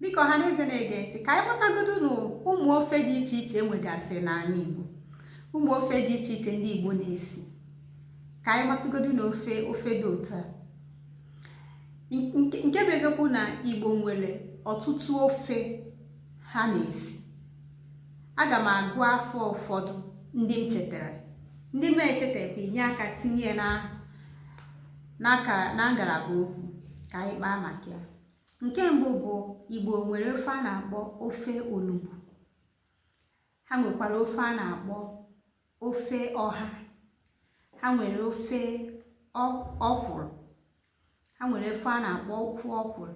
biko ọha na eze na-ege ntị ka anyị gbatagodo na ụmụ ofe dị iche iche enwegasị n'ala Igbo ụmụ ofe dị iche iche ndị Igbo na-esi ka anyị gbatagodo na ofe ofe dị ụtọ a nke bụ eziokwu na Igbo nwere ọtụtụ ofe ha na-esi aga m agụ afa ụfọdụ ndị m chetara ndị m echetaghị inye aka tinye na na ngalaba okwu ka anyị kpaa maka ya nke mbụ bụ igbo nwere ofe a na-akpọ ofe onugbu ha nwekwara ofe a na-akpọ ofe ọha ha nwere ofe ọkwụrụ ha nwere ofe a na-akpọ ofe ọkwụrụ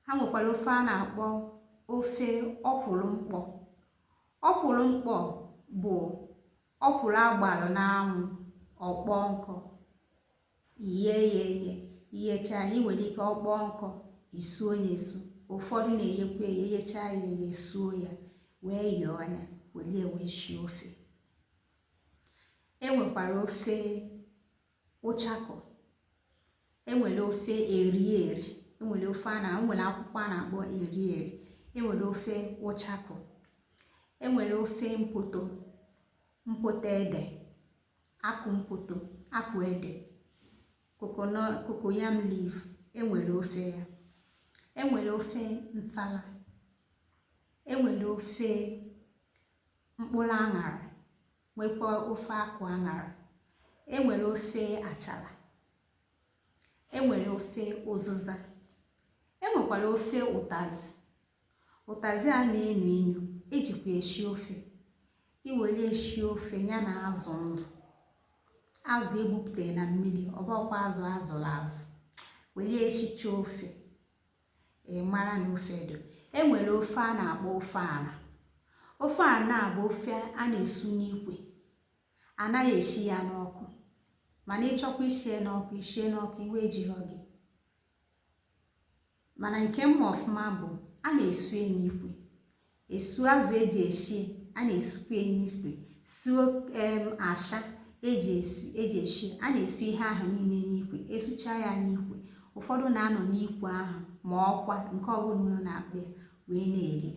ha nwekwara ofe a na-akpọ ofe ọkwụrụ mkpọ ọkwụrụ mkpọ bụ Ọkwụrụ a gbalụ n'anwụ, ọ kpọọ nkụ, iye ya eye. Iyecha ya, i nwere ike ọ kpọọ nkụ, isuo ya esu. Ụfọdụ na-eyekwa eye, eyechaa ya eye, esuo ya, wee yọọ ya, welie wee shie ofe. E nwekwara ofe ụchakụ enwere ofe eri eri enwere ofe a na enwere akwụkwọ a na-akpọ eri eri enwere ofe ụchakụ enwere ofe mpoto mpoto ede akụ mpoto akụ ede cocoyam leaf enwere ofe ya enwere ofe nsala enwere ofe mkpụrụ aṅara nwekwa ofe akwụ aṅara e nwere ofe achala e nwere ofe ụzụza e nwekwara ofe ụtazị ụtazị a na-enu inu ejikwa eshi ofe iwere eshi ofe ya na azụ ndụ azụ egbupụtara na mmiri ọbọkwa azụ azụrụ azụ were eshicha ofe ị mara na ofe edo e nwere ofe a na-akpọ ofe ala ofe a na-abụ ofe a na-esu n'ikwe anaghị eshi ya n'ọkụ mana ịchọkwa isie n'ọkụ isie n'ọkụ iwe ejirọ gị mana nke mma ọfụma bụ a na-esu n'ikwe esu azụ eji eshi a na-esukwa n'ikwe suo em asha eji esu eji eshi a na-esu ihe ahụ niile n'ikwe esucha ya n'ikwe ụfọdụ na-anọ n'ikwe ahụ ma ọkwa nke ọbụla unu na-akpọ ya wee na-eri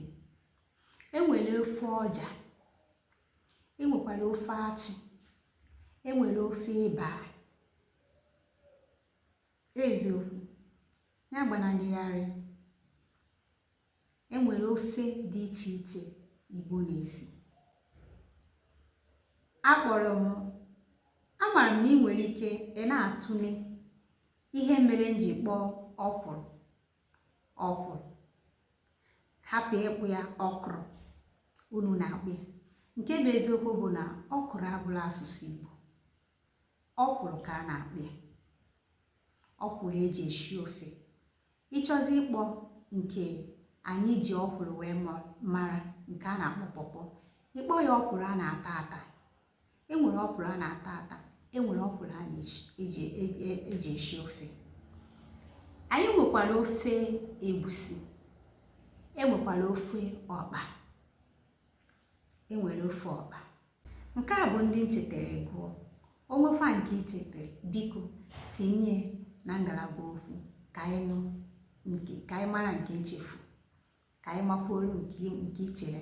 enwere ofe ọja enwekwara ofe achị enwere ofe ịba eziokwu ya agbana gị gharịị e nwere ofe dị iche iche Igbo na-esi akpọrọ m amaara m na ị nwere ike ị na-atụle ihe mere m ji kpọọ ọkwụrụ ọkwụrụ hapụ ịkpọ ya ọkụrụ unu na-akpọ ya nke bụ eziokwu bụ na ọkụrụ abụghị asụsụ Igbo ọkwụrụ ka a na-akpọ ya ọkwụrụ eji eshi ofe ị chọzi ịkpọ nke anyị ji ọkwụrụ wee mara nke a na-akpọ pọpọ ị kpọọ ya ọkwụrụ a na-ata ata enwere ọkwụrụ a na-ata ata enwere ọkwụrụ a na-eji eshi ofe anyị nwekwara ofe egwusi enwekwara ofe ọkpa enwere ofe ọkpa nke a bụ ndị m chetere gụọ o nwekwa nke i chetere biko tinye na ngalaba okwu ka anyị mara nke m chefu ka anyị makwuoro nke i chere